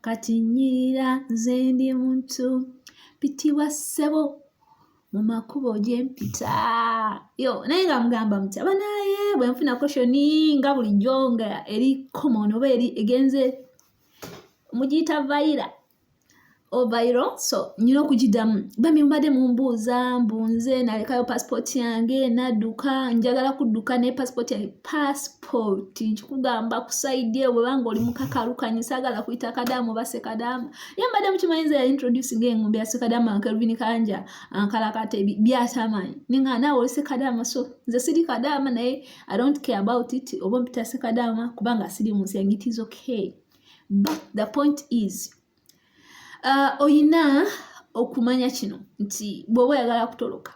kati nyirira nze ndi muntu pitibwa ssebo mu makubo gye mpita yo naye nga mugamba muti abanaye bwe nfuna koshoni nga bulijjo nga eri common oba eri egenze mugiyita vayira ovairo so nyina okugidamu bambi mubadde mumbuuza mbunze nalekayo pasipooti yange nadduka njagala kudduka ne pasipooti yange pasipo support nkikugamba kusaidia webanga oli mukakalu kanyi sagala kuyita kadamu base kadamu ye mbadde mukimanyi nze yali introduce nga engombe ya sekadamu ankelvin kanja ankalakate byatamanyi ninga naawe oli sekadamu so nze siri kadamu naye i don't care about it oba mpita sekadamu kubanga siri munsi yange it is okay but the point is uh, oyina okumanya kino nti bwoba oyagala kutoloka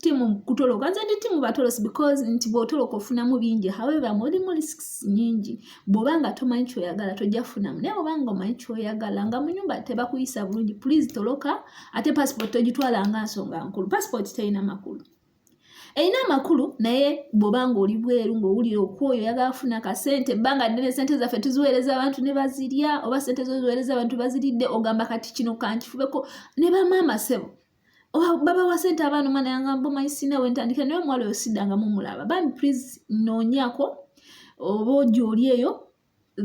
timu kutoloka nze ndi timu batolosi because nti bwotoloka ofunamu bingi however mulimu risks nyingi bwoba nga tomanyi kyoyagala tojja kufunamu naye bwoba nga omanyi kyoyagala nga mu nyumba tebakuyisa bulungi please toloka ate passport togitwala nga nsonga nkulu passport terina makulu erina amakulu naye bwoba nga oli bweru ngaowulira okwoyo oyagala kufuna kasente ebbanga ddene sente zaffe tuziweereza abantu ne bazirya oba sente zoziweereza abantu baziridde ogamba kati kino kankifubeko ne bamaama sebo babawa sente abaana omwana yangamba omanyi sina wentandika naye omuwala oyo sidanga mumulaba bambi please noonyako oba ogyoli eyo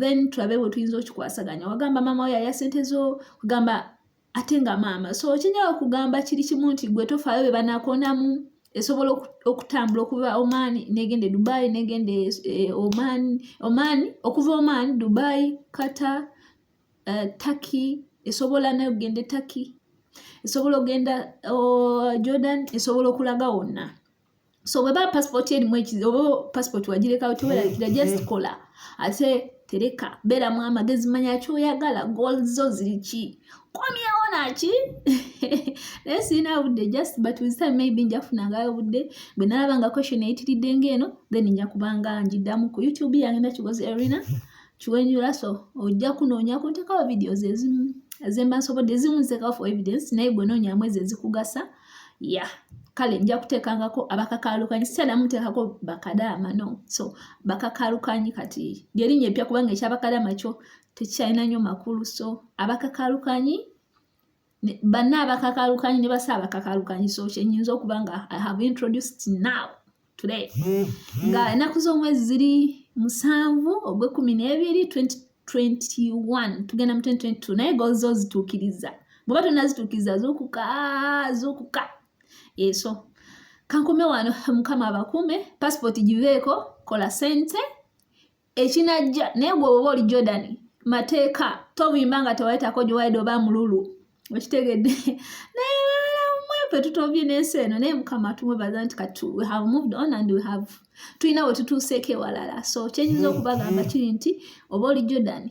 then tulabe bwe tuyinza okikwasaganya wagamba maama oyo aya sente zo kugamba ate nga maama so okinyala okugamba kiri kimu nti gwe tofaayo be banakonamu esobola okutambula okuva oman negenda e dubai negenda e, e, oman okuva oman dubai kata uh, turkey esobola nayo okugenda e turkey esobola okugenda oh, jordan esobola okulaga wonna so bweba passport erimu ekizibu oba passport wagirekawo teweralikira just kola ate tereka beeramu amagezi manya kyoyagala gol zo ziri ki komyewo naki naye sirina budde just but with time maybe nja kufunangayo budde bwe nalaba nga question eyitiridde ngaeno then nja kubanga njiddamu ku youtube yange nakikoze erina kiwenyula so ojja kunoonya ku ntekawo videos ezimu ezemba nsobodde ezimu nzeka for evidence naye gwe noonyamu ezo ezikugasa ya yeah. kale nja kuteekangako abakakaalukanyi sitera muteekako bakadaama no so bakakaalukanyi kati lyerinnya eppya kubanga ekyabakadaama kyo tekikyalina nnyo makulu so abakakaalukanyi banna abakakalukanyi ne basa abakakalukanyi so kyenyinza okuba nga i have introduced now today nga enaku z'omwezi ziri musanvu ogwekumi n'ebiri 2021 tugenda mu 2022 naye gozo zituukiriza bweba tonazituukiriza zukuka zukuka eso kankome wano mukama abakume pasipoti giveeko kola sente ekinajja naye gwe oba oli jordan mateeka tovimba nga tewayitako gyewaide oba mululu okitegedde naye balamwefe tutobye nensi eno naye mukama tumwebaza nti kati we have moved on and we have tulina wetutuuseeko ewalala so kyenyiza okubagamba kiri nti oba oli jordan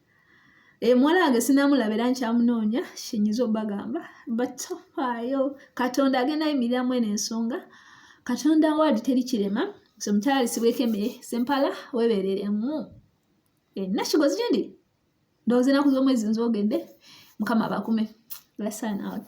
emuwala eh, wange sinamulaba era nkyamunoonya kinyiza obagamba but tofaayo katonda agenda yimiriramu eno ensonga katonda waadi teri kirema so mukyala lisibweko emere sempala webereremu enna eh, kigozi gyendi ndowooza enaku z'omwezi nzogedde mukama bakume lesson out